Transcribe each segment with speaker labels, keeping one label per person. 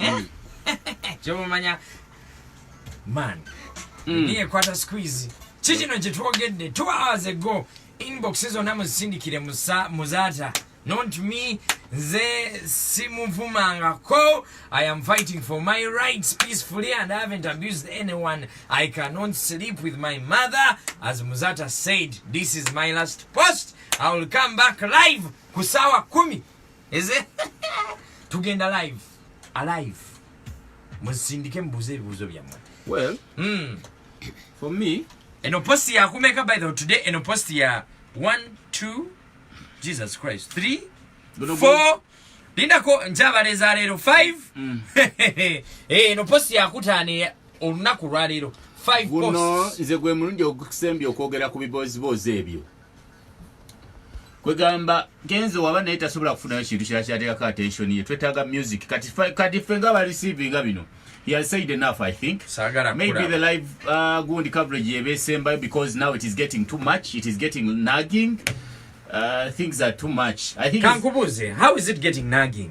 Speaker 1: mm. kyomumanya man mm. niye kwata squeeze kikino kyetwogedde two hours ago inbox zonna muzisindikire muzaata not me nze simuvumangako i am fighting for my rights peacefully and i haven't abused anyone i cannot sleep with my mother as muzata said this is my last post i will come back live kusawa kumi eze tugenda live alive muzindike mubuze ebibuzo byamwe well mm.
Speaker 2: for me eno post ya
Speaker 1: kumeka by the today eno post ya 1 2 jesus christ 3 4 lindako njaba leza lero 5 mm. eh eno post ya kutani olunaku lwa lero 5 posts nze gwe mulungi
Speaker 2: okusembya okwogera ku bibozi bozi ebyo kwegamba genzo waba naye tasobola kufunayo kintu kira kyateekako attention ye twetaaga music kati kati ffe nga bareceiving bino he has said enough i think Sagara maybe kura. the live uh, gundi coverage yeba esembayo because now it is getting too much it is getting nagging uh, things are too much i think kankubuuze how is it
Speaker 1: getting nagging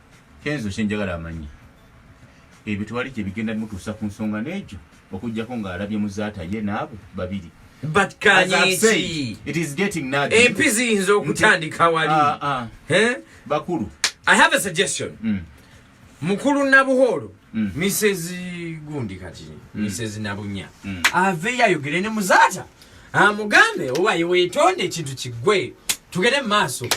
Speaker 2: Kenzo kyenjagala amanyi ebyo tewali gye bigenda bimutuusa ku nsonga n'egyo okuggyako ng'alabye muzaata ye n'abo babiri empi ziyinza
Speaker 1: okutandika wali ah, ah. Eh? bakulu
Speaker 2: i have a suggestion
Speaker 1: mm. mukulu nabuholo mm. misezi gundi kati mm. misezi nabunya aveyo ayogere ne muzaata amugambe owaye wetonde ekintu kigwe tugere maaso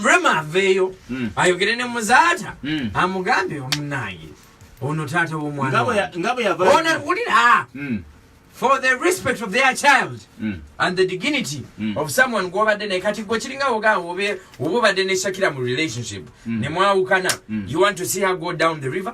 Speaker 1: rema aveeyo hmm. ayogere ne muzaata hmm. amugambe omunange ono taata womwanaulira
Speaker 2: hmm.
Speaker 1: for the respect of their child and the dignity of someone gwobadde naye kati gwe kiringa wogaa oba obadde neshakira mu relationship nemwawukana you want to see her go down the river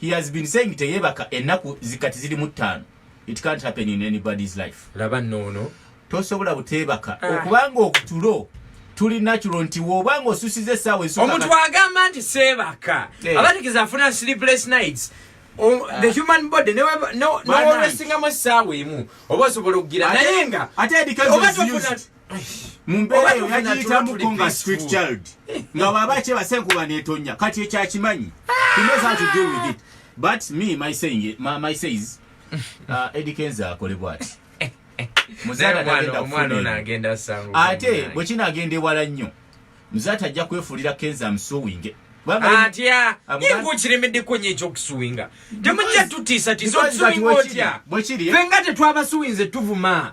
Speaker 2: he has been saying teyebaka enaku zikati ziri mutano it can't happen in anybody's life laba nono
Speaker 1: tosobola butebaka
Speaker 2: ah. okubanga okutulo tuli natural nti wobanga osusize sawa esuka omuntu agamba nti
Speaker 1: sebaka hey. Eh. abatikiza afuna sleepless nights Um, ah. the human body never no no always singa masawe mu obosobola okugira nayenga ate edikazi
Speaker 2: mumbeera yo yagiyitamuko nga street child eh. nga bwaba kyebasenkuba netonya kati ekyakimanyi ah! but me my saying, my, my says uh, Eddie Kenza akole bwati
Speaker 1: ate bwekina agenda
Speaker 2: ewala nnyo muzata ajja kwefuulira kenza amusuwinge atya
Speaker 1: yingukirimidde kwenye ekyokusuwinga temujja tutiisa tiisa otusuwinga otya fenga tetwabasuwinze tuvuma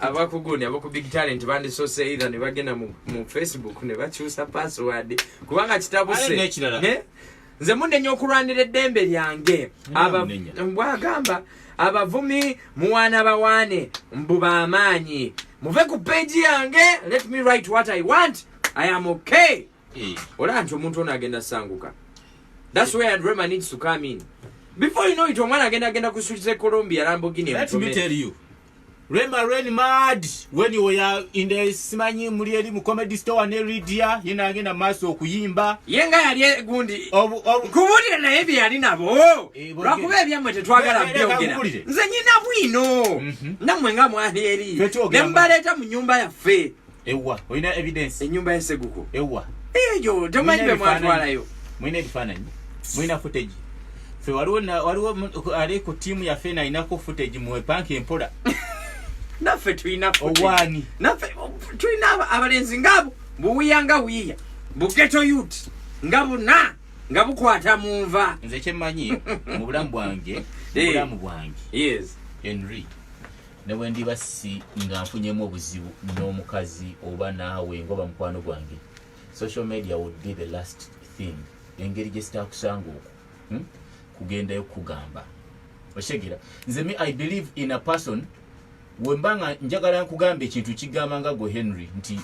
Speaker 1: abakugu ne abaku big talent bandisose either ne bagenda mu, mu facebook ne bakyusa password kubanga kitabu se ne nze munde nyo kulwanira eddembe lyange aba mbwagamba abavumi muwana bawane mbu bamaanyi muve ku page yange let me write what i want i am okay eh. olaba nti omuntu ono agenda sanguka thats where drama needs to come in before you
Speaker 2: know
Speaker 1: it omwana agenda agenda
Speaker 2: kusukiza
Speaker 1: e colombia
Speaker 2: lambogini
Speaker 1: Rema
Speaker 2: Rain Mad when you were in the Simanyi muli eri mu comedy store ne Lydia yena agenda maso okuyimba yenga yali egundi
Speaker 1: kubulira naye bye yali nabo eh, lwakuba ebyamwe tetwagala byogera nze nyina bwino mhm. namwe nga mwali eri ne mbaleeta mu nyumba yaffe Ewa, oyina
Speaker 2: evidence. Enyumba ya seguko.
Speaker 1: Ewa. Ejo,
Speaker 2: tomanyi
Speaker 1: be mwatwala yo. Mwine bifananyi.
Speaker 2: Mwina footage. Fe waliwo na waliwo ali ku team ya Fena inako footage mwe bank empola. Nafe
Speaker 1: tuina footage. Owani. Nafe tuina abalenzi ngabo. Buwiya nga wiya. Buketo youth. Ngabo na nga bukwata munva. Nze kyemanyi
Speaker 2: mu bulamu bwange, mu eh. bulamu bwange.
Speaker 1: Yes. Henry.
Speaker 2: ne bwe ndiba si nga nfunyemu obuzibu n'omukazi oba naawe ngoba mukwano gwange social media would be the last thing engeri gye sitaakusanga oku hmm? kugendayo kukugamba okitegera nze me i believe in a person wemba nga njagala nkugamba ekintu kigamba nga gwe henry nti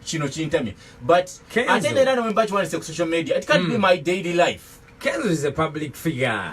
Speaker 2: kino kintamye but ate neera newemba kiwandise ku social media it can't mm. be hmm. my daily life kenzo is a public
Speaker 1: figure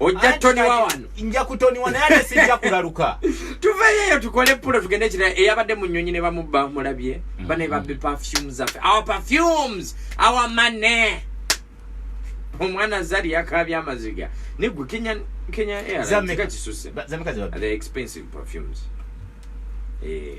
Speaker 1: ojja toniwa wano nja kutoniwa naye
Speaker 2: ate sijja kulaluka tuveyo eyo
Speaker 1: tukole pulo tugende ekirala eyabadde mu nnyonyi ne bamubba mulabye mm-hmm. bane babbe perfumes zaffe our perfumes our money omwana zari yakabya amaziga nigwe kenya kenya airlines kati susse
Speaker 2: the
Speaker 1: expensive perfumes eh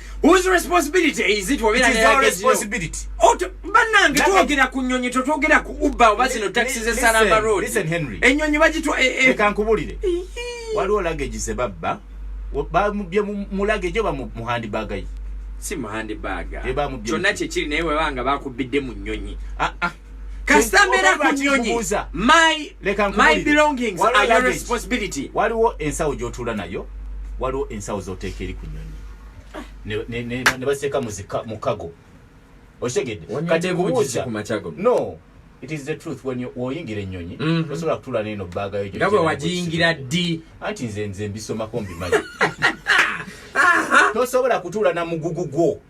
Speaker 2: Whose
Speaker 1: responsibility is it wabera It is our responsibility.
Speaker 2: Oto, oh, banange
Speaker 1: tuogera ku nyonyi to tuogera ku uba oba zino taxi ze Salama Road. Listen Henry. Enyonyi
Speaker 2: bagitwa e eh, e. Eh.
Speaker 1: Eka nkubulire.
Speaker 2: Waliwo luggage ze babba. Ba mu bye mu luggage oba mu handbag yi. Si mu handbag.
Speaker 1: Eba mu bye. Kyonna kye kiri naye webanga bakubidde mu nyonyi. Ah ah. kasita mbeera ku nnyonyi my belongings are your responsibility waliwo ensawo
Speaker 2: gy'otuula nayo waliwo ensawo z'oteeka eri ku nnyonyi ne baseeka mu kago okitegedde kati nkubuuza no it is the truth when you oyingira enyonyi mm -hmm. osobola kutula neno baga yo ngabwe wajingira
Speaker 1: di anti nze nze
Speaker 2: mbisoma kombi maji tosobola kutula na mugugu gwo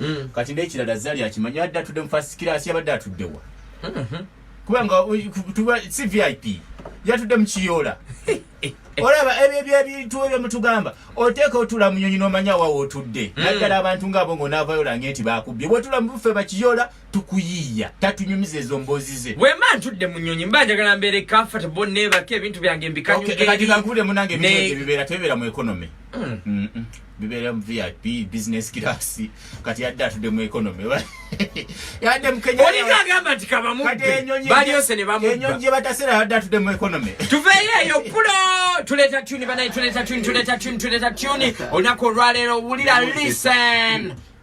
Speaker 2: mm. kati nekirala zali akimanyi adde atudde mu fast class yabadde atuddewa mm-hmm. kubanga si vip yatudde mukiyoola olaba ebyebyebintu ebyo mutugamba oteeka otula munyonyi nomanya wawe otudde mm. naddala abantu ngaabo ngaonavayo olange nti bakubbye bwetula mubuffe bakiyola tukuyiiya tatunyumiza ezo mboozi ze wemba ntudde munyonyi
Speaker 1: mba njagala mbeere comfortable nebaka ebintu byange mbikanyugekati kankubule munange
Speaker 2: ebibeera tebibeera mu economy mm. bibeera mu vip business class kati yadde atudde mu economy yadde mukenyaolinga agamba nti
Speaker 1: kabamubbalyose ne bamubba gye batasera yadde
Speaker 2: atudde mu economy tuveeyo eyo
Speaker 1: pulo tuleeta tuni banaye tuleeta tuni tuleeta tuni tuleeta tuni olunaku olwaleero wulira listen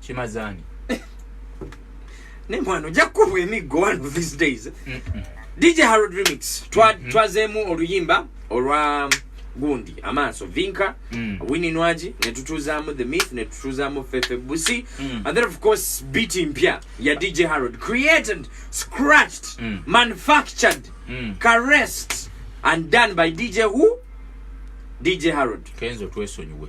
Speaker 1: kimazani nemwana ojja kukubwa emiggo one of these days dj harold remix mm-hmm. twazeemu oluyimba olwa gundi amaaso vinka mm. wini nwaji netutuuzaamu the myth netutuuzaamu fefe busi mm. and then of course beat mpya ya dj harold created scratched mm. manufactured mm. caressed and done by dj who dj harold kenzo twesonyiwe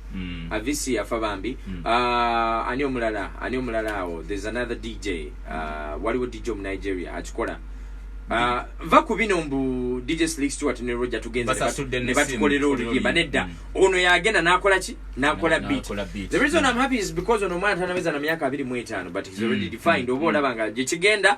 Speaker 1: Mm. Avisi yafa bambi. Mm. Uh, ani omulala, ani omulala awo. There's another DJ. Uh, ah, waliwo DJ mu Nigeria akikola. Uh, ah, va ku bino mbu DJ Slick Stewart ne Roger tugenze ne batukolera oluyimba nedda. Mm. Ono yagenda n'akola ki? N'akola beat. The reason mm. I'm happy is because ono omwana tanaweza na myaka 25 but he's already mm. defined. Mm. Oba olaba nga gye kigenda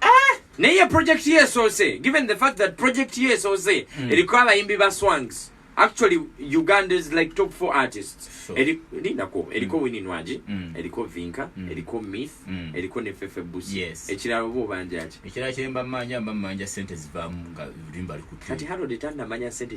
Speaker 1: ah! naye project ye esoose given the fact that project ye esoose hmm. eriko abayimbi ba swangs actually uganda is like top four artists lindako eriko mm. wini nwaji mm. eriko vinka mm. eriko mith mm. eriko nefefe busi yes. ekirala oba obanja ki ekirala kyemba manja
Speaker 2: mba manja sente zivamu nga limba likutyo kati harode tanda manya
Speaker 1: sente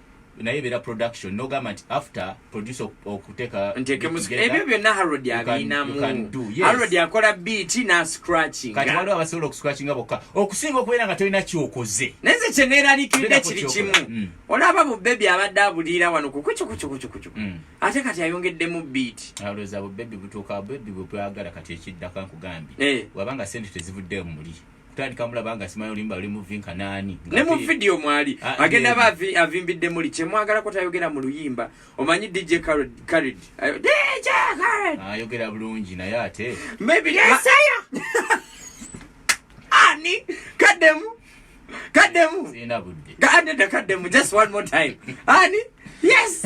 Speaker 2: naye ebeera production nogamba nti after producer okuteka ebyo
Speaker 1: byonna harod abirinamu harod akola beat na scratching kati waliwo abasobola
Speaker 2: okuscratchinga bokka okusinga okubeera nga tolina kyokoze naye nze kyeneeralikiridde
Speaker 1: kiri kimu mm. olaba bubebi abadde abuliira wano kukucukucukucukucuku mm. ate kati ayongeddemu beat alowooza bubebi
Speaker 2: butuuka bubebi bwebwagala kati ekiddaka nkugambye eh. wabanga sente tezivuddeyo muli kutandika mulaba nga simanyi olimba oli muvinka nani ne mu video mwali
Speaker 1: ah, agenda ba avimbidde muli kye mwagala ko tayogera mu luyimba omanyi DJ Khaled Khaled DJ Khaled ah, ayogera ah, bulungi
Speaker 2: naye ate maybe yes aya
Speaker 1: ani kademu kademu
Speaker 2: sina
Speaker 1: budde kademu da kademu just one more time ani yes